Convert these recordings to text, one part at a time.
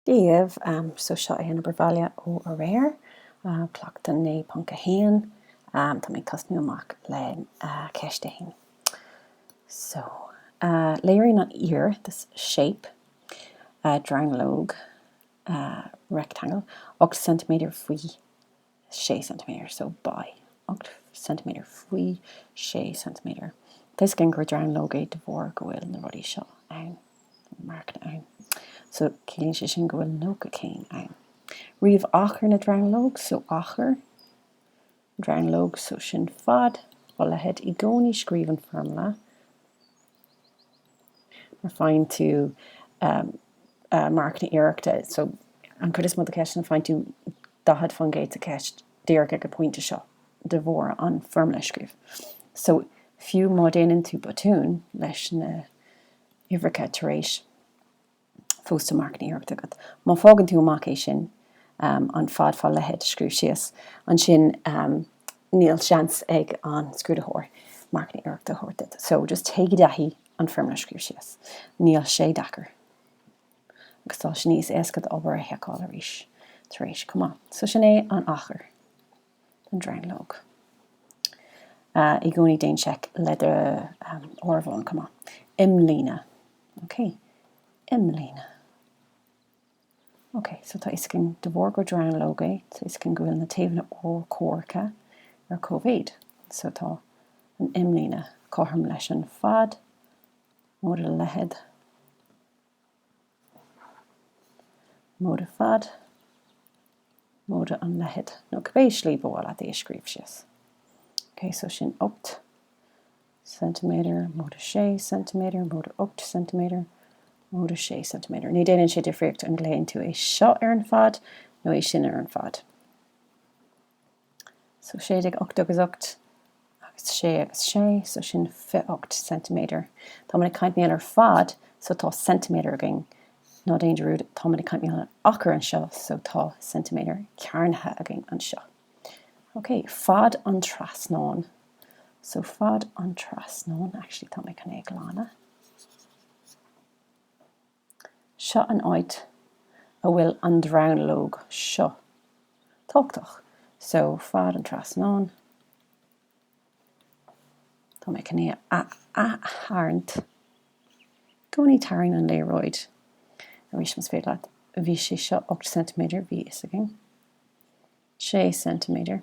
díobh. So seo é an obair bhaile ó aréir, Cleachtadh 9.1. Tá mé ag tosnú amach le Ceist 1. So léiríonn an fhíor, this shape, dronuilleog, rectangle, 8 ceintiméadar faoi 6 ceintiméadar, so by 8 ceintiméadar, faoi 6 ceintiméadar. Tá fhios againn gur dronuilleog é de bharr go bhfuil na rudaí seo ann, na marcanna ann. So ciallaíonn sé sin go bhfuil nócha céim ann. Ríomh achar na dronuilleog, so achar dronuilleog, so sin fad fá leithead. I gcónaí scríobh an foirmle. mar faigheann tú marcanna iarrachta so an cuid is mó de ceisteanna faigheann tú daichead fán gcéad sa cheist díreach ag an pointe seo de bharr an foirmle scríobh so fiú má déanann tú botún leis na huimhreacha tar éis fós tá marcanna iarrachta agat. Má fágann tú amach é sin, an fad fá leithead a scríobh síos, ansin níl seans ag an scrúdaitheoir marcanna iarrachta a thabhairt duit. So, just téigh i dtaithí an foirmle a scríobh síos. Níl sé deacair. Agus tá sé níos éasca d'obair a sheiceáil arís tar éis chomh maith. So, sin é an achar. don dronuilleog. I gcónaí déan seic le do áireamhán chomh maith. Imlíne. OK. Imlíne. OK, so tá fhios againn de bharr gur dronuilleog é, tá fhios againn go bhfuil na taobhanna urchomhaireacha ar cóimhéid. So tá an imlíne cothrom leis an fad móide leithead. móide fad, móide an leithead, nó cibé slí ba mhaith leat é a scríobh síos. Ok, so sin ocht ceintiméadar, móide sé ceintiméadar, móide ocht ceintiméadar, móide sé ceintiméadar. Ní déanann sé difríocht an glaonn tú é seo ar an fad nó é sin ar an fad. so 16, 8 agus 8 agus 6 agus 6 so sin 28 ceintiméadar. Tá muid ag caint mar gheall ar fad so tá ceintiméadar againn, ná déan dearúd tá muid ag caint mar gheall ar achar anseo so tá ceintiméadar cearnaithe againn anseo. Ok, fad an trasnán. So fad an trasnán, actually tá mé chun é a ghlanadh. Seo an áit a bhfuil an dronuilleog seo tábhachtach. So, fad an trasnán, tá mé chun é a ath-tharraingt i gcónaí, tarraing an léaráid arís más féidir leat, bhí sé seo ocht ceintiméadar, bhí fhios againn. 6 ceintiméadar,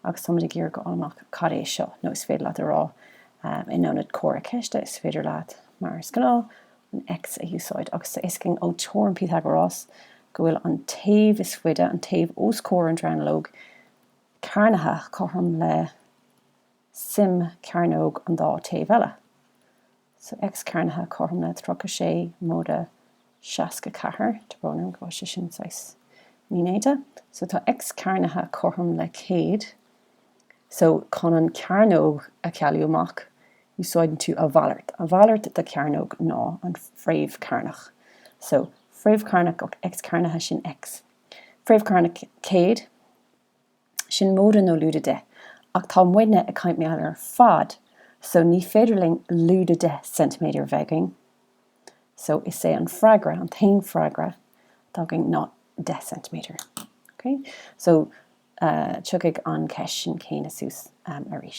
agus táimid ag iarraidh go fháil amach cad é seo, nó is féidir leat a rá, in ionad comhartha ceiste, is féidir leat, mar is gnáth, an X a úsáid, agus tá a fhios againn ó teoirim Pythagoras go bhfuil an taobh is faide, an taobh os comhair an dronuilleog chearnaithe, cothrom le suim chearnóg an dá thaobh eile. X cearnaithe cothrom le 36 móide 64 tá brón orm go bhfuil sé sin saghas mínéata so tá X cearnaithe cothrom le 100 so chun an chearnóg a chealú amach úsáideann tú a mhalairt, a mhalairt de chearnóg ná an fréamh cearnach so fréamh cearnach X cearnaithe sin X fréamh cearnach 100. Sin móide nó lúide deich, ach tá muidne ag caint mar gheall ar fad so ní féidir linn lúide deich ceintiméadar a bheith againn so is é an freagra, an t-aon freagra atá againn ná deich gceintiméadar. OK? So tiocfaidh an cheist sin chéanna suas arís.